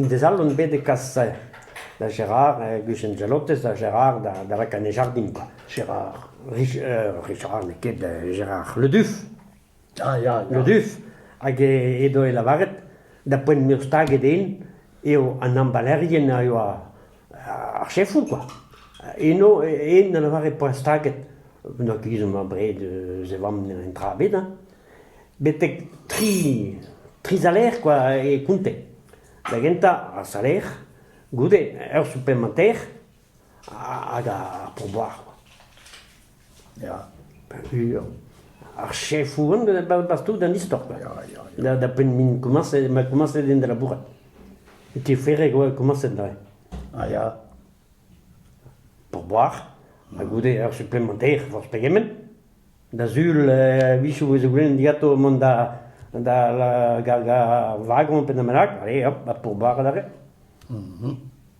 Des all on bet e kas da Gerard, Gus Angelotez ha Gerard da rekañ e jardin kwa. Gerard, Gerard n'eo ket Gerard Le Duff. Ah ya, Le Duff, hag edo e lavaret da poent m'eo staget den eo an ambalerien a yoa ar chefoù kwa. Eno eno ne lavare poent staget, n'oa ket ezhomm abred eus e vamm en dra ebet hein, betek tri tri salaer kwa e konte. Da gentañ ar salaer, goude ur suplemanter hag ar pourboire. Ya, peogwir ar chefoù on da baouez tout an istor quoi. Ya, ya, ya. Da, da penn min komañset, ma komañset din da labourat. E ti Ferreg oa komañset neuze. Ah ya, pour boire, ha goude ur supplémentaire forzh pegement. Da sul, eh, visoù vez goulenn digato mont da, da la- ga'l ga'l wagon pe da bennak, allez hop, ha pour boire adarre.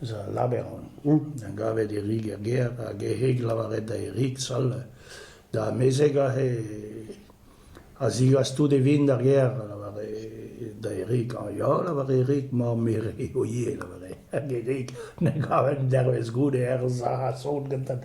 eus al labour a gavet Erik er gêr hag hec'h lavaret da Erik sal da amezeg aze a zigas tout e vin d'ar gêr, a lavare da Erik. Ah ya, lavare Erik, mamm-mère eo ivez, lavare hag Erik ne gaven dervezh goude er sac'h a-sot gantan.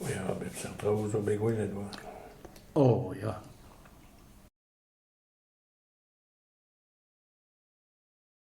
Ya, bep seurt traoù zo bet gwelet oa. Oh ya.